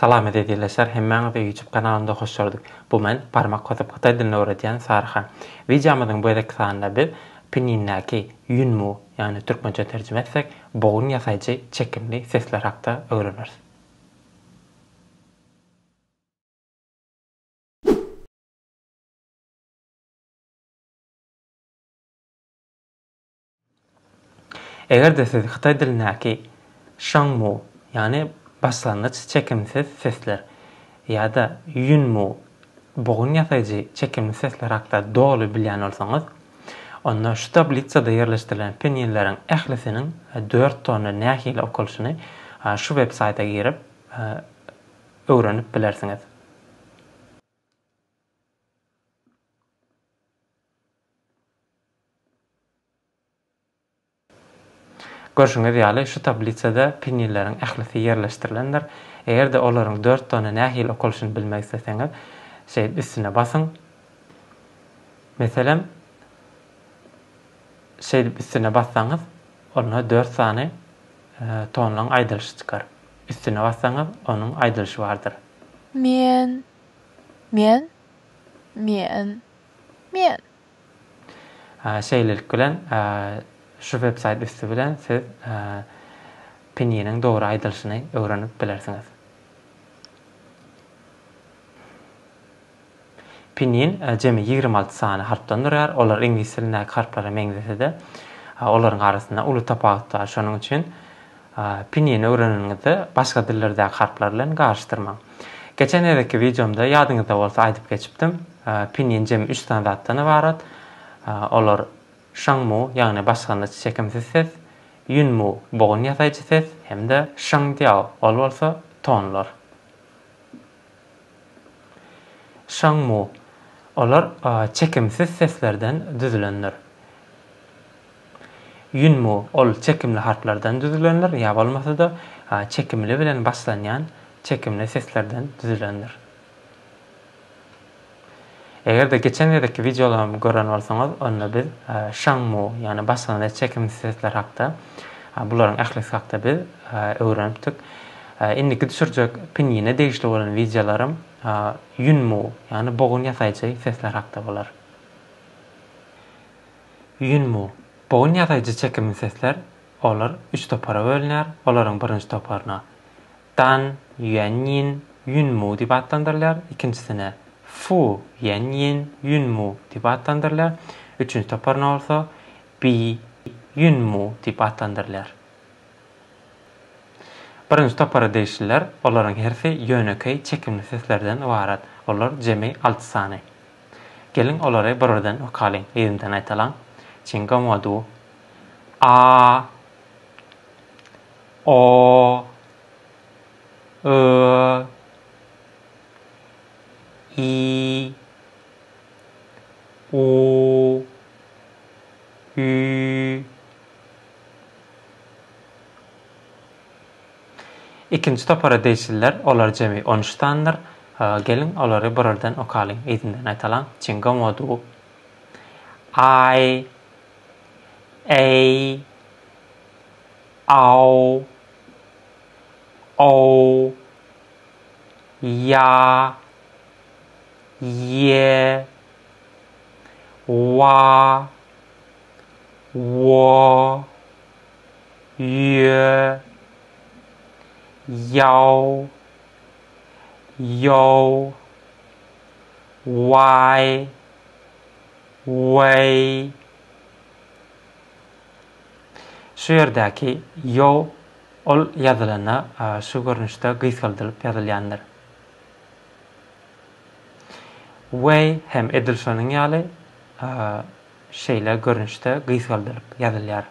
Salam ezizleşler hemmäňize YouTube kanalynda hoş gördük. Bu men barmak basyp hytaý dilini öwredýän Saryhan. Wideomyzyň bu gezekki sanynda biz Pinýindäki Ýunmu, ýagny türkmençe terjime etsek, bogun ýasaýjy çekimli sesler hakda öwreneris. Eger-de siz hytaý dilindäki şangmu, ýagny başlangyç çekimsiz sesler, ýa-da ýunmu, bogun ýasaýjy çekimli sesler hakda doly bilýän bolsaňyz, onda şu tablisada ýerleşdirilen pinýinleriň ählisiniň dört tony nähili okalyşyny şu websaýta girip, öwrenip bilersiňiz. Görşüňiz ýaly, şu tablisada penileriň ählisi ýerleşdirilendir. Eger-de olaryň dört sany nähili okalyşyny bilmek isleseňiz, şeýdip üstüne basyň. Meselem, şeýdip üstüne bassaňyz, onda dört sany tonlaryň aýdylyşy çykar. Üstüne bassaňyz, onuň aýdylyşy bardyr. Men. Men. Men. Men. Şeýlelik bilen, şu websaýt üsti bilen siz pininiň dogry aýdylyşyny öwrenip bilersiňiz. Pinin jemi ýigrimi alty sany harpdan durýar. Olar iňlis dilindäki harplara meňzese-de, olaryň arasynda uly tapawut bar. Şonuň üçin Pinýini öwreneniňizde başga dillerdäki harplar bilen garyşdyrmaň. Geçen gezekki wideomda ýadyňyzda bolsa aýdyp geçipdim. Pinýin jemi üç sany zatdan ybarat. Olar şangmu, ýagny başlangyç çekimsiz ses, ýunmu, bogun ýasaýjy ses hem-de şangdiao, ol bolsa tonlar. Şangmu, olar çekimsiz seslerden düzülendir. Ýunmu, ol çekimli harplardan düzülendir, ýa bolmasa-da, çekimli bilen başlanýan çekimli seslerden düzülendir. Eger-de geçen gezekki wideolarymyzy gören bolsaňyz, onda biz Şang Mu, ýagny başlangyç çekimsiz sesler hakda, bularyň ählisi hakda biz öwrenipdik. Indiki düşürjek Pinýine degişli bolan wideolarym Ýun Mu, ýagny bogun ýasaýjy sesler hakda bolar. Ýun Mu, bogun ýasaýjy çekimli sesler, olar üç topara bölünýär, olaryň birinji toparyna Dan Ýuanýin Ýunmu diýip atlandyrylýar, ikinjisine Fu Ýanýin Ýunmu diýip atlandyrylýar, üçünji toparyna bolsa Bi Ýunmu diýip atlandyrylýar. Birinji topara degişliler, olaryň hersi ýönekeý çekimli seslerden ybarat, olar jemi alty sany. Geliň, olary bir-birden okalyň, yzymdan aýdalaň, Çingomadu, A, O, Ö, Y, U, Ü, Ikinji topara degişliler, olar jemi on üç sanydyr. Geliň, olary birardan okalyň, yzyndan aýtalaň. Çinga modu. Aý, Eý. Aw. Ow. Ýa. Ýe. Wa. Wo. Ýö. Ýow. Ýow. Waý. Weý. Şu ýerdäki yo ol ýazylanda şu görnüşde gysgaldylyp ýazylýandyr. Way hem edil şonuň ýaly şeýle görnüşde gysgaldylyp ýazylýar.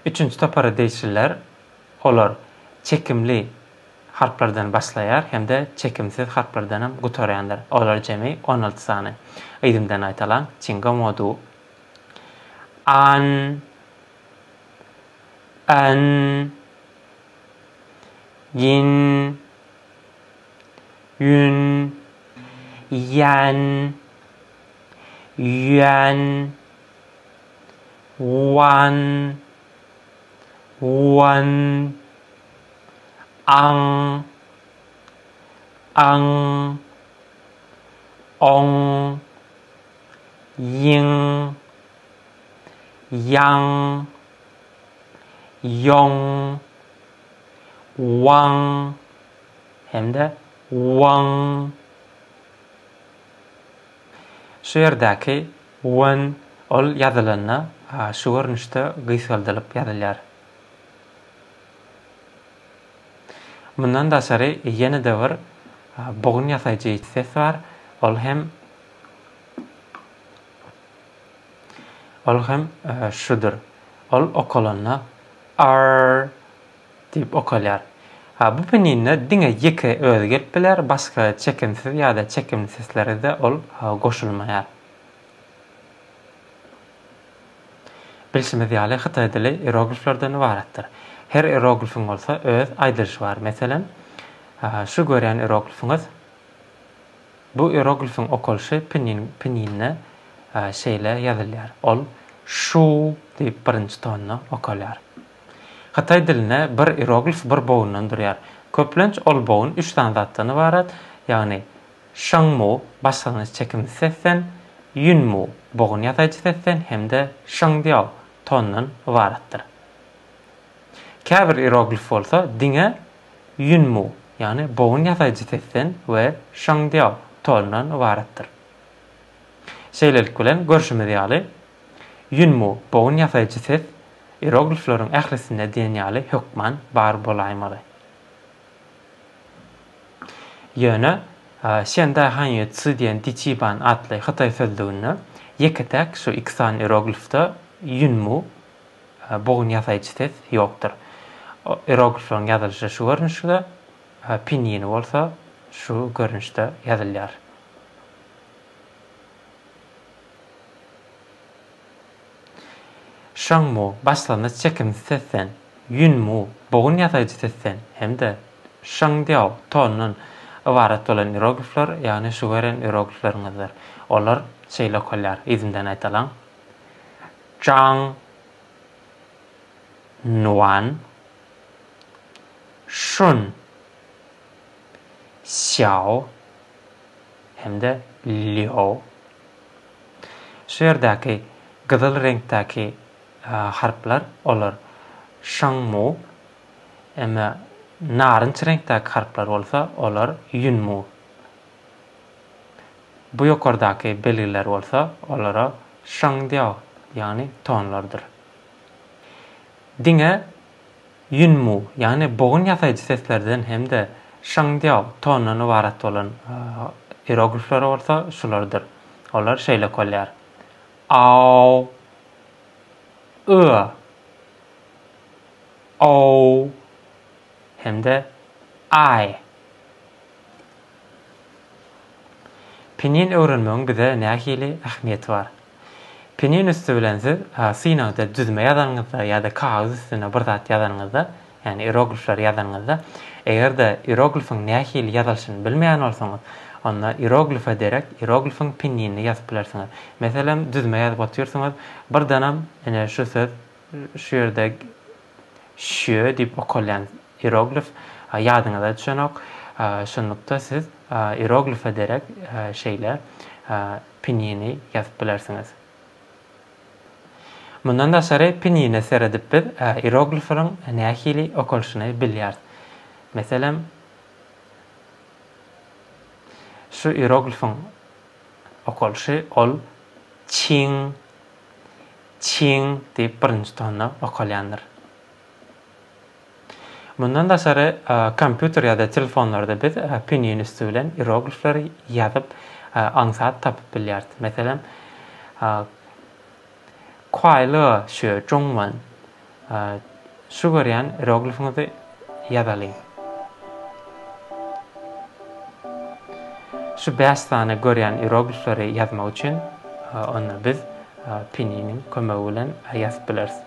Üçünji topara degişliler, olar çekimli, harplardan başlaýar hem-de çekimsiz harplardanam gutarýandyr. Olar jemi on alty sany. Yzymdan gaýtalaň, Çinga Modu. An. An. Gin. Ýun. Ýan. Ýuan. Wan. Wan. Aň. Aň. Oň. Ýiň. Ýaň. Ýoň. Waň. Hem-de Waň. Şu ýerdäki win ol ýazylanda şu görnüşde gysgaldylyp ýazylýar. Mundan daşary ýene-de bir bogun ýasaýjy ses bar, ol hem ol hem şudur. Ol okalanda arr Diýip okalýar. A bu peninde diňe ýeke özi gelip biler, başga çekimsiz ýa-da çekimli seslere-de ol goşulmaýar. Bilşimiz ýaly, hytaý dili ierogliflerden ybaratdyr. Her ieroglifiň bolsa öz aýdylyşy bar. Meselem, şu görýän ieroglifiňiz. Bu ieroglifiň okalyşy pinin peninde şeýle ýazylýar. Ol şu diýip birinji tonda okalýar. Hytaý dilinde bir ieroglif bir bogundan durýar. Köplenç ol bogun üç sany zatdan ybarat, ýagny şyňmu, başlangyç çekimsiz sesden, ýunmu, bogun ýasaýjy sesden hem-de şyňdiao, tondan ybaratdyr. Käbir ieroglif bolsa diňe ýunmu, ýagny bogun ýasaýjy sesden we şyňdiao, tondan ybaratdyr. Şeýlelik bilen, görşümiz ýaly, ýunmu, bogun ýasaýjy ses, Ieroglifleriň ählisinde diýen ýaly hökman bar bolaýmaly. Ýöne Şen Daý Han Ýue Tsu diýen Di Çi Ban atly hytaý sözlüginde ýeke-täk şu iki sany ieroglifde ýun mu, bogun ýasaýjy ses, ýokdur. Ieroglifleriň ýazylyşy şu görnüşde, pinýini bolsa şu görnüşde ýazylýar. Şöň-mu, başlangyç çekimsiz sesden, ýün-mu, bogun ýasaýjy sesden hem-de şöň-diao, tondan, ybarat bolan ieroglifler, ýagny şu gören ieroglifleriňizdir. Olar şeýle okalýar, yzymdan aýdalyň, Jang Nuan Şun Sýao hem-de Lýo. Şu ýerdäki gyzyl reňkdäki harplar olar Şangmu, emma narynç reňkdäki harplar bolsa olar Ýunmu. Bu ýokardaky belgiler bolsa olara Şangdiao, ýagny tonlardyr. Diňe Ýunmu, ýagny bogun ýasaýjy seslerden hem-de şyňdiao tondan ybarat bolan ieroglifleri bolsa şulardyr. Olar şeýle okalýar, ao, ua, ow hem-de ae. Pinin öwrenmegiň bize nähili ähmiýeti bar? Piniň üsti bilen siz synagda düzme ýazanyňyzda ýa-da kagyz üstüne bir zat ýazanyňyzda, ýagny ieroglifleri ýazanyňyzda, eger-de ieroglifyň nähili ýazylyşyny bilmeýän bolsaňyz, onda ieroglife derek ieroglifiň pinini ýazyp bilersiňiz. Meselem, düzme ýazyp otyrsyňyz, birdenem ine şu söz, şu ýerde şýö diýip okalýan ieroglif ýadyňyza düşenok. Şunlukda siz ieroglife derek şeýle pinini ýazyp bilersiňiz. Mundan daşary pinine seredip biz iroglifleriň nähili okalyşyny bilýäris. Meselem, şu iroglifiň okalyşy ol çiň, çiň diýip birinji tonda okalýandyr. Mundan daşary, kompýuter ýa-da telefonlarda biz pinyin üsti bilen iroglifleri ýazyp, aňsat tapyp bilýäris. Meselem, Kuai le xue zhong wen, Şu görýän iroglifiňizi ýazalyň. Şu bäş sany görýän iroglifleri ýazmak üçin onda biz pinynyň kömegi bilen ýazyp bileris.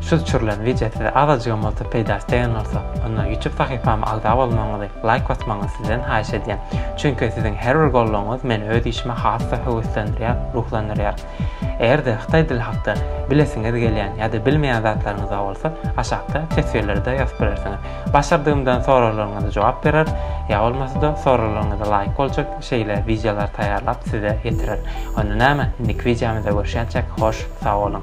Şu düşürilen wideo size azajygam bolsa peýdasy degen bolsa, onda YouTube sahypama agza bolmagyňyzy, laýk basmagyňyzy sizden haýyş edýän. Çünki siziň her bir goldawyňyz meni öz işime has-da höweslendirýär, ruhlandyrýar. Eger-de hytaý dili hakda bilesiňiz gelýän ýa-da bilmeýän zatlaryňyz-da bolsa, aşakda teswirlerde ýazyp bilersiňiz. Başardygymdan soraglaryňyza jogap berer, ýa bolmasa-da soraglaryňyza laýyk boljak şeýle wideolary taýýarlap size ýetirer. Onda näme, indiki wideomyzda görşýänçäk, hoş sag boluň!